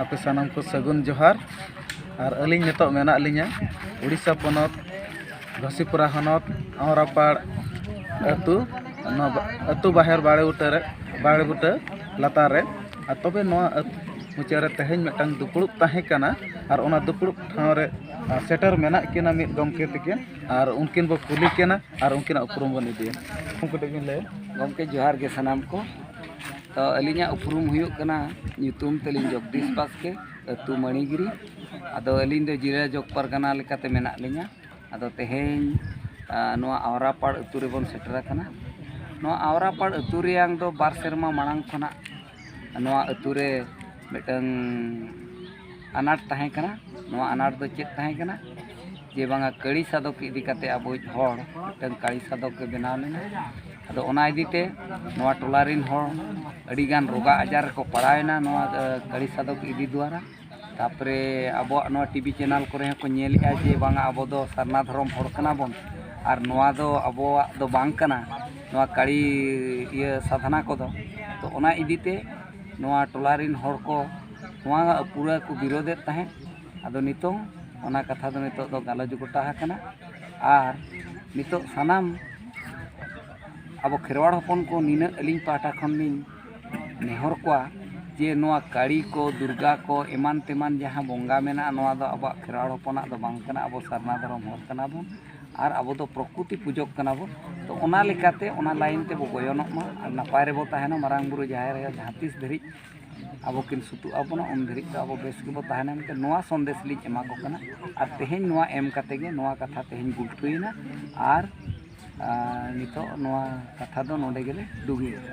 ᱟᱯᱮ ᱥᱟᱱᱟᱢ ᱠᱚ ᱥᱟᱹᱜᱩᱱ ᱡᱚᱦᱟᱨ ᱟᱨ ᱟᱹᱞᱤᱧ ᱱᱤᱛᱚᱜ ᱢᱮᱱᱟᱜ ᱞᱤᱧᱟᱹ ᱳᱰᱤᱥᱟ ᱯᱚᱱᱚᱛ ᱜᱷᱟᱥᱤᱯᱩᱨᱟ ᱦᱚᱱᱚᱛ ᱟᱢᱨᱟᱯᱟᱲ ᱟᱹᱛᱩ ᱱᱚᱣᱟ ᱟᱹᱛᱩ ᱵᱟᱦᱮᱨ ᱵᱟᱲᱮ ᱵᱩᱴᱟᱹ ᱨᱮ ᱵᱟᱲᱮ ᱵᱩᱴᱟᱹ ᱞᱟᱛᱟᱨ ᱨᱮ ᱟᱨ ᱛᱚᱵᱮ ᱱᱚᱣᱟ ᱢᱩᱪᱟᱹᱫ ᱨᱮ ᱛᱮᱦᱮᱧ ᱢᱤᱫᱴᱟᱝ ᱫᱩᱯᱲᱩᱵ ᱛᱟᱦᱮᱸ ᱠᱟᱱᱟ ᱟᱨ ᱚᱱᱟ ᱫᱩᱯᱲᱩᱵ ᱴᱷᱟᱶ ᱨᱮ ᱥᱮᱴᱮᱨ ᱢᱮᱱᱟᱜ ᱠᱤᱱᱟ ᱢᱤᱫ ᱜᱚᱢᱠᱮ ᱛᱟᱹᱠᱤᱱ ᱟᱨ ᱩᱱᱠᱤᱱ ᱵᱚᱱ ᱠᱩᱞᱤ ᱠᱤᱱᱟ ᱟᱨ ᱩᱱᱠᱤᱱᱟᱜ ᱩᱯᱨᱩᱢ ᱵᱚᱱ ᱤᱫᱤᱭᱟ ᱩᱱᱠᱩ ᱠᱟᱹᱴᱤᱡ ᱵᱤᱱ ᱞᱟᱹᱭᱟ ᱜᱚᱢᱠᱮ ᱡᱚᱦᱟᱨ ᱜᱮ ᱥᱟᱱᱟᱢ ᱠᱚ ᱟᱹᱞᱤᱧᱟᱜ ᱩᱯᱨᱩᱢ ᱦᱩᱭᱩᱜ ᱠᱟᱱᱟ ᱧᱩᱛᱩᱢ ᱛᱟᱹᱞᱤᱧ ᱡᱚᱜᱽᱫᱤᱥ ᱵᱟᱥᱠᱮ ᱟᱹᱛᱩ ᱢᱟᱹᱱᱤᱜᱤᱨᱤ ᱟᱫᱚ ᱟᱹᱞᱤᱧ ᱫᱚ ᱡᱮᱞᱟ ᱡᱚᱜᱽ ᱯᱟᱨᱜᱟᱱᱟ ᱞᱮᱠᱟᱛᱮ ᱢᱮᱱᱟᱜ ᱞᱤᱧᱟ ᱟᱫᱚ ᱛᱮᱦᱮᱧ ᱱᱚᱣᱟ ᱟᱣᱨᱟᱯᱟᱲ ᱟᱹᱛᱩ ᱨᱮᱵᱚᱱ ᱥᱮᱴᱮᱨ ᱟᱠᱟᱱᱟ ᱱᱚᱣᱟ ᱟᱣᱨᱟᱯᱟᱲ ᱟᱹᱛᱩ ᱨᱮᱭᱟᱜ ᱫᱚ ᱵᱟᱨ ᱥᱮᱨᱢᱟ ᱢᱟᱲᱟᱝ ᱠᱷᱚᱱᱟᱜ ᱱᱚᱣᱟ ᱟᱹᱛᱩ ᱨᱮ ᱢᱤᱫᱴᱟᱝ ᱟᱱᱟᱴ ᱛᱟᱦᱮᱸ ᱠᱟᱱᱟ ᱱᱚᱣᱟ ᱟᱱᱟᱴ ᱫᱚ ᱪᱮᱫ ᱛᱟᱦᱮᱸ ᱠᱟᱱᱟ ᱡᱮ ᱵᱟᱝᱟ ᱠᱟᱹᱲᱤ ᱥᱟᱫᱚᱠ ᱤᱫᱤ ᱠᱟᱛᱮ ᱟᱵᱚᱭᱤᱡ ᱦᱚᱲ ᱢᱤᱫᱴᱟᱝ ᱠᱟᱹᱲᱤ ᱥᱟᱫᱚᱠ ᱮ ᱵᱮᱱᱟᱣ ᱞᱮᱱᱟ ᱟᱫᱚ ᱚᱱᱟ ᱤᱫᱤ ᱛᱮ ᱱᱚᱣᱟ ᱴᱚᱞᱟ ᱨᱮᱱ ᱦᱚᱲ ᱟᱹᱰᱤ ᱜᱟᱱ ᱨᱳᱜᱟ ᱟᱡᱟᱨ ᱨᱮᱠᱚ ᱯᱟᱲᱟᱣ ᱮᱱᱟ ᱱᱚᱣᱟ ᱠᱟᱹᱲᱤ ᱥᱟᱫᱚᱠ ᱤᱫᱤ ᱫᱩᱣᱟᱨᱟ ᱛᱟᱨᱯᱚᱨᱮ ᱟᱵᱚᱣᱟᱜ ᱱᱚᱣᱟ ᱴᱤᱵᱷᱤ ᱪᱮᱱᱮᱞ ᱠᱚᱨᱮ ᱦᱚᱸᱠᱚ ᱧᱮᱞᱮᱜᱼᱟ ᱡᱮ ᱵᱟᱝᱟ ᱟᱵᱚ ᱫᱚ ᱥᱟᱨᱱᱟ ᱫᱷᱚᱨᱚᱢ ᱦᱚᱲ ᱠᱟᱱᱟ ᱵᱚᱱ ᱟᱨ ᱱᱚᱣᱟ ᱫᱚ ᱟᱵᱚᱣᱟᱜ ᱫᱚ ᱵᱟᱝ ᱠᱟᱱᱟ ᱱᱚᱣᱟ ᱠᱟᱹᱲᱤ ᱤᱭᱟᱹ ᱥᱟᱫᱷᱱᱟ ᱠᱚᱫᱚ ᱛᱚ ᱚᱱᱟ ᱤᱫᱤ ᱛᱮ ᱱᱚᱣᱟ ᱴᱚᱞᱟ ᱨᱮᱱ ᱦᱚᱲ ᱠᱚ ᱱᱚᱣᱟ ᱯᱩᱨᱟᱹ ᱠᱚ ᱵᱤᱨᱳᱫᱮᱫ ᱛᱟᱦᱮᱸᱫ ᱟᱫᱚ ᱱᱤᱛᱚᱝ ᱚᱱᱟ ᱠᱟᱛᱷᱟ ᱫᱚ ᱱᱤᱛᱚᱜ ᱫᱚ ᱜᱟᱞᱚᱪ ᱜᱚᱴᱟ ᱟᱠᱟᱱᱟ ᱟᱨ ᱱᱤᱛᱚᱜ ᱥᱟᱱᱟᱢ ᱟᱵᱚ ᱠᱷᱮᱨᱣᱟᱲ ᱦᱚᱯᱚᱱ ᱠᱚ ᱱᱤᱱᱟᱹᱜ ᱟᱹᱞᱤᱧ ᱯᱟᱦᱴᱟ ᱠᱷᱚᱱ ᱞᱤᱧ ᱱᱮᱦᱚᱨ ᱠᱚᱣᱟ ᱡᱮ ᱱᱚᱣᱟ ᱠᱟᱹᱲᱤ ᱠᱚ ᱫᱩᱨᱜᱟ ᱠᱚ ᱮᱢᱟᱱ ᱛᱮᱢᱟᱱ ᱡᱟᱦᱟᱸ ᱵᱚᱸᱜᱟ ᱢᱮᱱᱟᱜᱼᱟ ᱱᱚᱣᱟ ᱫᱚ ᱟᱵᱚᱣᱟᱜ ᱠᱷᱮᱨᱣᱟᱲ ᱦᱚᱯᱚᱱᱟᱜ ᱫᱚ ᱵᱟᱝ ᱠᱟᱱᱟ ᱟᱵᱚ ᱥᱟᱨᱱᱟ ᱫᱷᱚᱨᱚᱢ ᱦᱚᱲ ᱠᱟᱱᱟ ᱵᱚᱱ ᱟᱨ ᱟᱵᱚ ᱫᱚ ᱯᱨᱚᱠᱨᱤᱛᱤ ᱯᱩᱡᱟᱹᱜ ᱠᱟᱱᱟ ᱵᱚᱱ ᱛᱚ ᱚᱱᱟ ᱞᱮᱠᱟᱛᱮ ᱚᱱᱟ ᱞᱟᱭᱤᱱ ᱛᱮᱵᱚ ᱜᱚᱭᱚᱱᱚᱜ ᱢᱟ ᱟᱨ ᱱᱟᱯᱟᱭ ᱨᱮᱵᱚ ᱛᱟᱦᱮᱱᱟ ᱢᱟᱨᱟᱝ ᱵᱩᱨᱩ ᱡᱟᱦᱮᱨ ᱟᱭᱳ ᱡᱟᱦᱟᱸ ᱛᱤᱥ ᱫᱷᱟᱹᱨᱤᱡ ᱟᱵᱚ ᱠᱤᱱ ᱥᱩᱛᱩᱜ ᱟᱵᱚᱱ ᱩᱱ ᱫᱷᱟᱹᱨᱤᱡ ᱫᱚ ᱟᱵᱚ ᱵᱮᱥ ᱜᱮᱵᱚ ᱛᱟᱦᱮᱱᱟ ᱢᱮᱱᱛᱮ ᱱᱚᱣᱟ ᱥᱟᱸᱫᱮᱥ ᱞᱤᱧ ᱮᱢᱟ ᱠᱚ ᱠᱟᱱᱟ ᱟᱨ ᱛᱮᱦᱮᱧ ᱱᱚᱣᱟ ᱮᱢ ᱠᱟᱛᱮᱫ ᱜᱮ ᱱᱚᱣᱟ ᱠᱟᱛᱷᱟ ᱛᱮᱦᱮᱧ ᱜᱩᱞᱴᱟᱹᱣᱮᱱᱟ ᱟᱨ ᱱᱤᱛᱚᱜ ᱱᱚᱣᱟ ᱠᱟᱛᱷᱟ ᱫᱚ ᱱᱚᱰᱮ ᱜᱮᱞᱮ ᱰᱩᱜᱤᱭᱮᱫᱟ